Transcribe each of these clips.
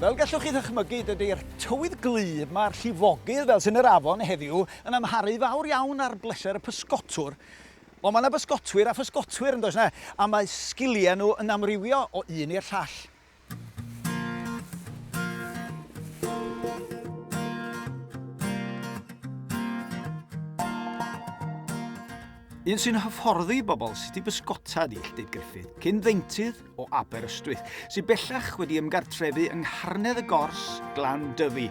Fel gallwch chi ddychmygu, dydy'r tywydd gwlyb 'ma a'r llifogydd fel sy'n yr afon heddiw yn amharu fawr iawn ar bleser y pysgotwr. Ond mae 'na bysgotwyr a physgotwyr, yn does 'na? A mae sgiliau nhw yn amrywio o un i'r llall. Un sy'n hyfforddi bobl sut i bysgota ydy Lletyb Gruffydd, cyn ddeintydd, o Aberystwyth, sydd bellach wedi ymgartrefu yng Ngharnedd y Gors, Glan Dyfi.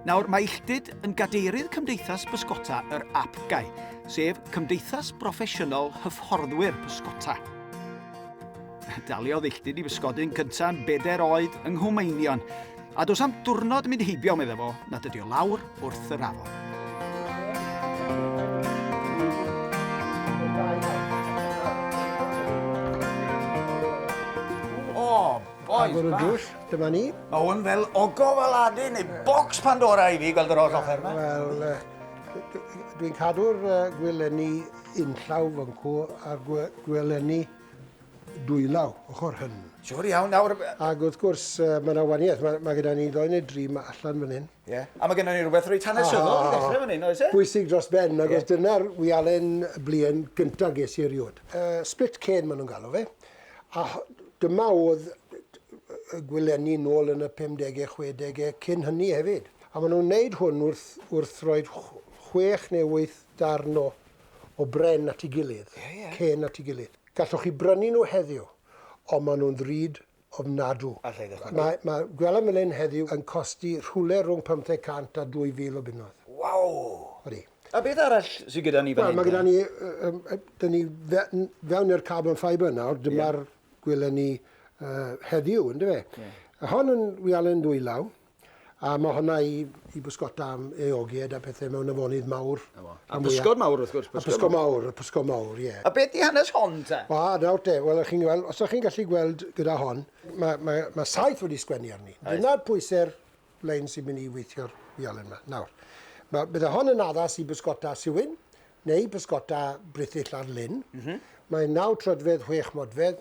Nawr, mae Illtud yn gadeirydd Cymdeithas Pysgota yr APGAI, sef Cymdeithas Broffesiynol Hyfforddwyr Pysgota. Daliodd Illtud i bysgodi'n cyntaf yn bedair oed yng Nghwmeinion, A does am diwrnod mynd heibio, meddai fo, na dydy o lawr wrth yr afon. Agor y drws, dyma ni. Mae hwn fel ogof Aladdin neu bocs Pandora i fi gweld yr holl offer yma. Wel, dwi'n cadw'r gwylenni yn llaw fy nhw a'r gwylenni dwylaw, ochr hyn. Siwr iawn, nawr... Ac wrth gwrs, mae yna waniaeth. Mae, mae gyda ni ddoi neu dri mae allan fan hyn. Ie. Yeah. A mae gennym ni rhywbeth reit hanesyddol i ddechrau fan hyn, oes e? Bwysig dros ben, ac yeah. dyna'r wialen blien gyntaf ges i erioed. Uh, split cane maen nhw'n galw fe. A dyma oedd y gwylenni nôl yn y 50au, 60au, cyn hynny hefyd. A maen nhw'n wneud hwn wrth, wrth roi chwech neu wyth darn o, o bren at ei gilydd, yeah, yeah. cen at ei gilydd. Gallwch chi brynu nhw heddiw, ond maen nhw'n ddrud ofnadw. Mae, mae, gwelem fel hyn heddiw yn costi rhwle rhwng 500 a 2000 o bunnoedd. Waw! Odi. A beth arall sy gyda ni fan hyn te? Wel, mae gyda ni, yym, yy, 'da ni fe- n- fewn i'r carbon fibre nawr, dyma'r gweleni, yy, heddiw, yndyfe? Ie. Hon yn wialen dwylaw. A ma' hwnna i i bysgota am eogied a pethe mewn afonydd mawr. 'Na fo. A pysgod mawr wrth gwrs. A pysgod mawr, y pysgod mawr, ie. A beth 'di hanes hon te? O, nawr te, wel o'ch chi'n gweld, os o'ch chi'n gallu gweld gyda hon, ma' ma' ma' saeth wedi sgwennu arni. Oes. Dyna'r pwyse'r lein sy'n mynd i weithio'r wialen 'ma. Nawr, ma', bydde hon yn addas i bysgota siwyn, neu bysgota brithyll ar lyn. M-hm. Mae'n naw troedfedd, chwech modfedd,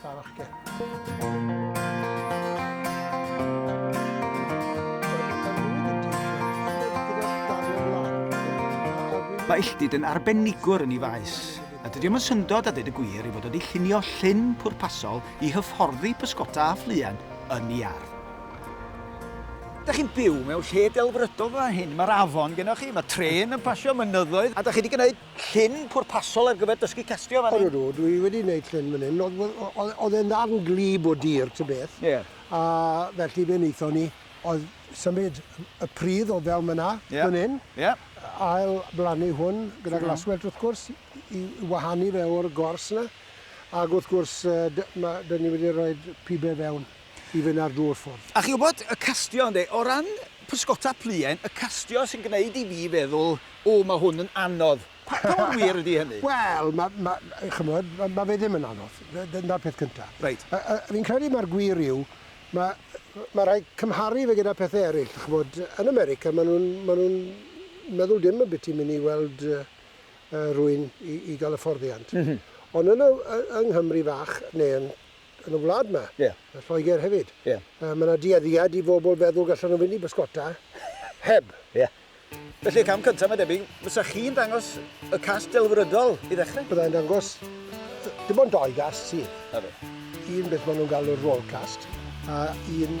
Da fach gen. Mae Illtyd yn arbenigwr yn ei faes, a dydy o'n syndod a dweud y gwir i fod wedi llunio llun pwrpasol i hyfforddi pysgota a ffluen yn ei ardd. Da chi'n byw mewn lle delfrydol fel hyn, mae'r afon gennych chi, mae tren yn pasio mynyddoedd, a da chi wedi gwneud llun pwrpasol ar gyfer dysgu castio fan hyn? Odw, dwi wedi neud llun fan hyn. Oedd e'n ddarn gwlyb o dir ta beth. Ie. A felly be naethon ni oedd symud y pridd o fewn fan'na fan hyn. Ie. Ail blannu hwn gyda glaswellt wrth gwrs i wahanu fe o'r gors 'na. Ag wrth gwrs yy dy- ma' 'dyn ni wedi roid pibe fewn. i fynd ar drwy'r ffordd. A chi'n gwybod, y castio ynde, o ran pysgota pluen, y castio sy'n gwneud i fi feddwl, o, mae hwn yn anodd. Pa mor wir ydy hynny? Wel, ma- ma- chimod, ma- ma' fe ddim yn anodd. D- dyna'r peth cynta. Reit. A- a- fi'n credu mai'r gwir yw, ma- ma' rhaid cymharu fe gyda pethe eryll. Chimod, yn America, ma' nhw'n, ma' nhw'n meddwl dim ambiti mynd i weld yy yy rhywun i i gael hyfforddiant. M-hm. Ond yn y y yng Nghymru fach, neu yn yn y wlad yma. Ie. Yn Lloegr hefyd. Ie. Yy ma' 'na dueddiad i bobl feddwl gallen nhw fynd i bysgota heb. Ie. Felly y cam cynta mae'n debyg, fysa chi'n dangos y cast delfrydol i ddechrau? Bydda i'n dangos yy dim ond dou gast sydd. 'Na fe. Un beth ma' nhw'n galw'r roll cast a un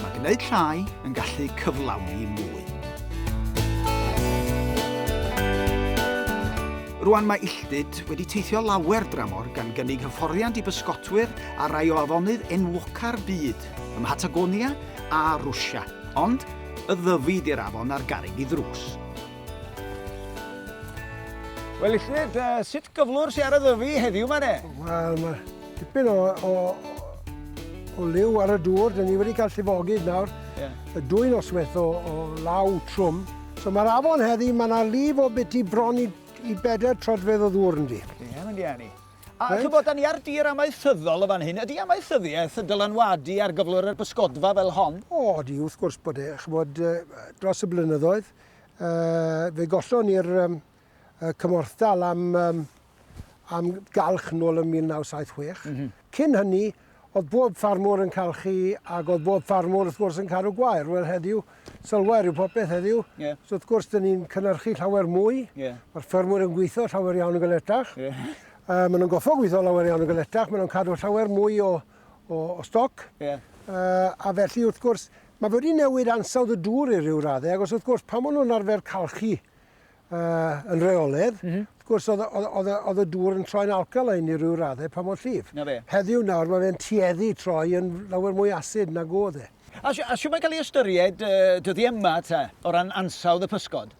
Mae gwneud llai yn gallu cyflawni mwy. Rwan mae Illtud wedi teithio lawer dramor gan gynnig hyfforddiant i bysgotwyr ar rai o afonydd enwoca'r byd, ym Mhatagonia a Rwsia, ond y Ddyfi di'r afon ar garreg i ddrws. Wel Illtud, sut gyflwr sy ar y Ddyfi heddiw ma de? Wel, mae Tipyn o, o, o liw ar y dŵr, dyn ni wedi cael llifogydd nawr, yeah. y dwy noswaith o, o law trwm. So mae'r afon heddi, mae yna lif o beth i bron i, i bedair trodfedd o ddŵr yn di. Ie, yeah, mae'n iani. A right. chybod, da ni ar dir amaethyddol o fan hyn. Ydy amaethyddiaeth dylanwadu ar gyflwr yr bysgodfa fel hon? O, di, wrth gwrs bod e. Chybod, dros y blynyddoedd, uh, fe gollon ni'r um, y cymorthdal am um, am galch nôl yn 1976. Mm -hmm. Cyn hynny, oedd bob ffarmwr yn calchu ac oedd bob ffarmwr wrth gwrs yn cadw gwair. Wel heddiw, sylwer yw popeth heddiw. Yeah. So wrth gwrs, dyn ni'n cynnyrchu llawer mwy. Yeah. Mae'r ffermwyr yn gweithio llawer iawn yn galetach. Yeah. Uh, maen nhw'n goffo gweithio llawer iawn yn galetach. Maen nhw'n cadw llawer mwy o, o, o stoc. Yeah. Uh, a felly wrth gwrs, mae wedi newid ansawdd y dŵr i ryw raddau. Ac os wrth gwrs, pan maen nhw'n arfer calchu uh, yn reoledd, mm -hmm. wrth gwrs oedd, oedd, oedd, oedd y dŵr yn troi'n alkaline i ryw raddau pa mor llif. Na fe. Heddiw nawr mae fe'n tueddu troi yn lawer mwy asid nag oedd e. A, a siw mae'n cael ei ystyried uh, dyddi yma ta, o ran ansawdd y pysgod?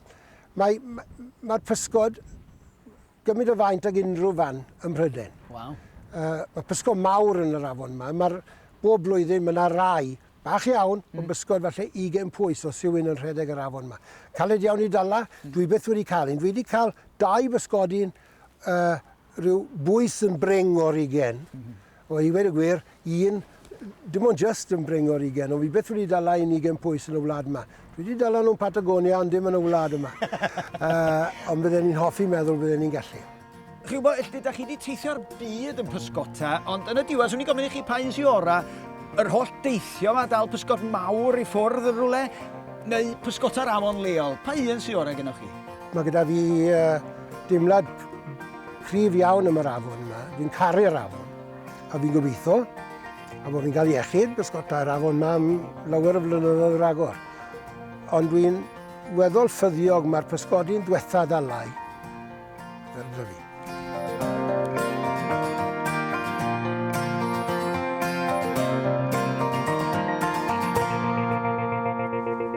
Mae'r mae, mae pysgod gymryd o faint ag unrhyw fan ym Mhrydain. Wow. Uh, mae pysgod mawr yn yr afon yma. Mae'r bob blwyddyn mae yna rai bach iawn, mm. ond bysgod falle 20 pwys o sy'n yn rhedeg yr afon yma. Caled iawn i dala, mm. dwi beth wedi cael un. Dwi wedi cael dau bysgodyn uh, rhyw bwys yn bring o'r ugen. Mm -hmm. O, i ddweud y gwir, un, dim ond jyst yn brin o'r ugain, ond fi byth wedi dala un ugain pwys yn y wlad yma. Dwi wedi dala nhw'n Patagonia, ond dim yn y wlad yma. uh, ond bydden ni'n hoffi meddwl bydden ni'n gallu. Chi'n gwybod, ydych chi wedi teithio'r byd yn pysgota, ond yn y diwedd, swn i'n gofyn i chi pa un sy'n ora, yr holl deithio yma, dal pysgod mawr i ffwrdd yn rhywle, neu pysgota'r afon leol. Pa un sy'n ora gennych chi? Mae gyda fi uh, dimlad Cryf iawn am yr afon yma, fi'n caru'r afon. A fi'n gobeithio, a bod fi'n cael iechyd, bysgotau'r afon yma am lawer o flynyddoedd yr agor. Ond dwi'n weddol ffyddiog mae'r pysgodi'n diwetha ddalai. Fel dda fi.